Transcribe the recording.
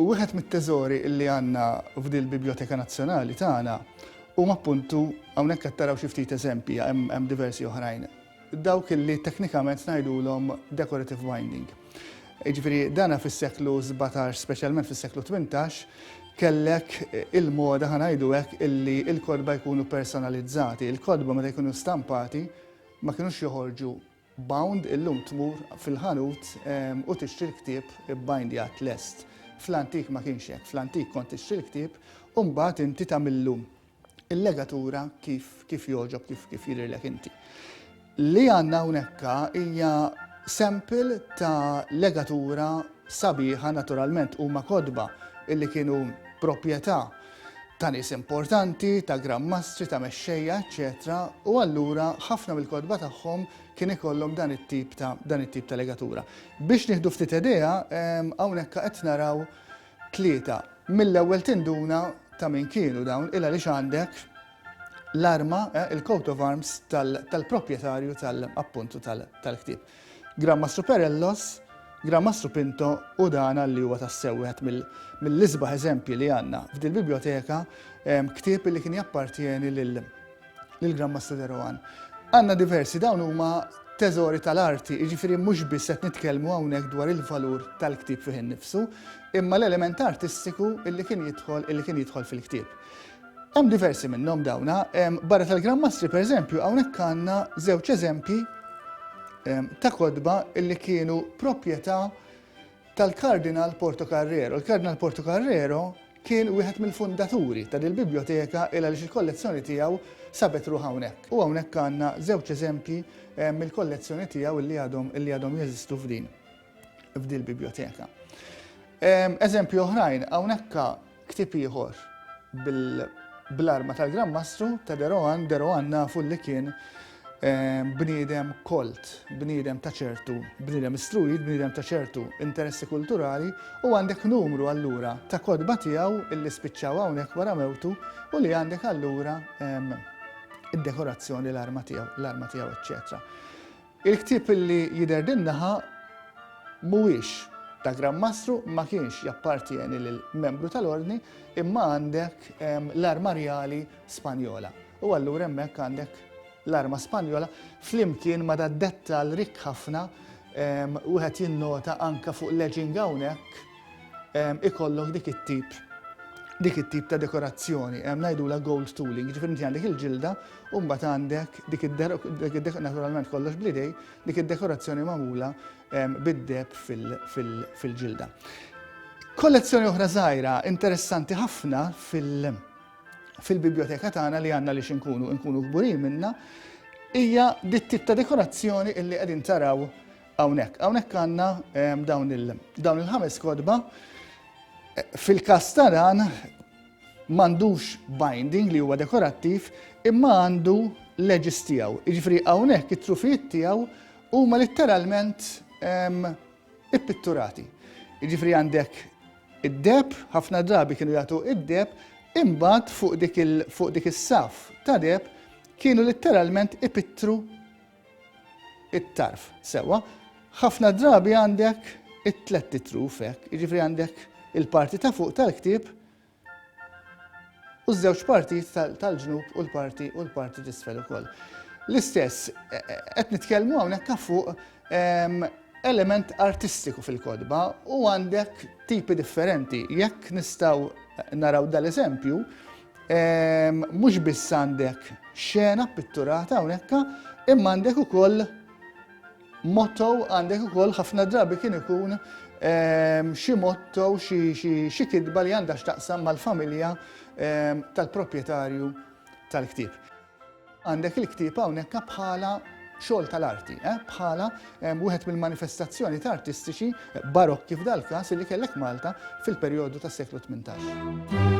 Wieħed mit-teżori li għandna f'dil biblioteka nazzjonali tagħna huma appuntu hawnhekk qed taraw xi ftit eżempji hemm diversi oħrajn. dawk li teknikament ngħidulhom decorative binding. Jiġifieri dana fis-seklu 17, speċjalment fis-seklu 18, kellek il-moda ħanajdu hekk illi l-kotba jkunu personalizzati. Il-kotba meta jkunu stampati ma kinux joħorġu bound illum tmur fil-ħanut ehm, u tixtri l-ktieb bindjat lest. Fl-antik ma kienx hekk, fl-antik kont tixtri l-ktieb u mbagħad inti tagħmillu il-legatura kif, kif joġob, kif, kif jidhirlek inti. Li għandna hawnhekka hija sample ta' legatura sabiħa naturalment huma kodba illi kienu proprjetà ta' nies importanti, ta' grammastri, ta' mexxejja, eċċetera, u allura ħafna mill-kodba tagħhom kien ikollhom dan it-tip ta' dan it-tip ta' legatura. Biex nieħdu ftit idea, hawnhekk qed naraw Tlieta, Mill-ewwel tinduna ta' min kienu dawn il-għaliex għandek l-arma, il-coat of arms tal-proprjetarju tal-appuntu tal-ktieb. Gran Mastru Perellos, Gran Mastru Pinto u dan għalli huwa tassew wieħed mill-isbaħ eżempji li għandna f'dil-bibljoteka, ktieb li kien jappartjeni lil lill-Gran Master De Rohan. Għandna diversi, dawn huma teżori tal-arti, jiġifieri mhux biss qed nitkellmu hawnhekk dwar il-valur tal-ktieb fih innifsu, imma l-element artistiku illi kien jidħol illi kien jidħol fil-ktieb. Hemm diversi minnhom dawna, barra tal-Gran Mastri pereżempju hawnhekk għandna żewġ eżempji ta' kotba illi kienu proprjetà tal-Kardinal Portocarrero. Il-Kardinal Portocarrero kien wieħed mill-fundaturi ta' dil-biblioteka il għaliex il-kollezzjoni tiegħu sabet ruħha hawnhekk. U hawnhekk għandna żewġ eżempji eh, mill-kollezzjoni tiegħu li għadhom li għadhom jeżistu f'din f'dil-biblioteka. Ehm, eżempju oħrajn, hawnhekk Ktieb ieħor bl-arma tal-Gran Mastru ta' De Rohan, De Rohan nafu li kien bniedem kolt, bniedem ta' ċertu, bniedem istruit, bniedem ta' ċertu interessi kulturali u għandek numru allura ta' kotba tiegħu illi spiċċaw hawnhekk wara mewtu u li għandek allura id-dekorazzjoni l-arma tiegħu, l-arma tiegħu eċċetera. Il-ktieb li jidher din naħa mhuwiex ta' Gran Mastru, ma kienx jappartjeni lil membru tal-Ordni, imma għandek l-arma rjali Spanjola. U allura hemmhekk għandek l-arma Spanjola flimkien ma' dad-dettall rikk ħafna, wieħed jinnota anke fuq l-edging hawnhekk, ikollok dik it-tip dik it-tip ta' dekorazzjoni, hemm ngħidula gold tooling, ġifieri inti għandek il-ġilda u mbagħad għandek dik id naturalment kollox blidej, dik id-dekorazzjoni magħmula bid-deb fil-ġilda. Kollezzjoni oħra żgħira interessanti ħafna fil-biblioteka tagħna li għandna li xinkunu nkunu kburin minna hija dit-tip ta' dekorazzjoni illi qegħdin taraw Hawnhekk, hawnhekk għandna dawn il-ħames kotba fil-każ taran m'għandux binding li huwa dekorattiv imma għandu leġis tiegħu. Jiġifieri hawnhekk it-trufijiet tiegħu huma litteralment ippitturati. Jiġifieri għandek id-deb, ħafna drabi kienu jagħtu id-deb, imbagħad fuq dik is-saf ta' deb kienu litteralment ipittru it-tarf sewwa, ħafna drabi għandek it-tlett itruf hekk, jiġifieri għandek il-parti ta' fuq tal-ktieb u ż-żewġ partijiet tal-ġnub u l-parti u l-parti t'isfel ukoll. L-istess, e, e, qed nitkellmu hawnhekk ta' fuq ehm, element artistiku fil-kodba u għandek tipi differenti. Jekk nistgħu naraw dal-eżempju, Mhux biss għandek xena pitturata hawnhekk, imma għandek ukoll motto għandek ukoll ħafna drabi kien ikun ehm, xi motto xi kitba li għandha x'taqsam mal-familja ehm, tal-proprjetarju tal-ktieb. Għandek il-ktieb hawnhekk bħala xogħol tal-arti, eh? bħala wieħed mill-manifestazzjoni ta' artistiċi barokki f'dal każ li kellek Malta fil-perjodu tas-seklu 18.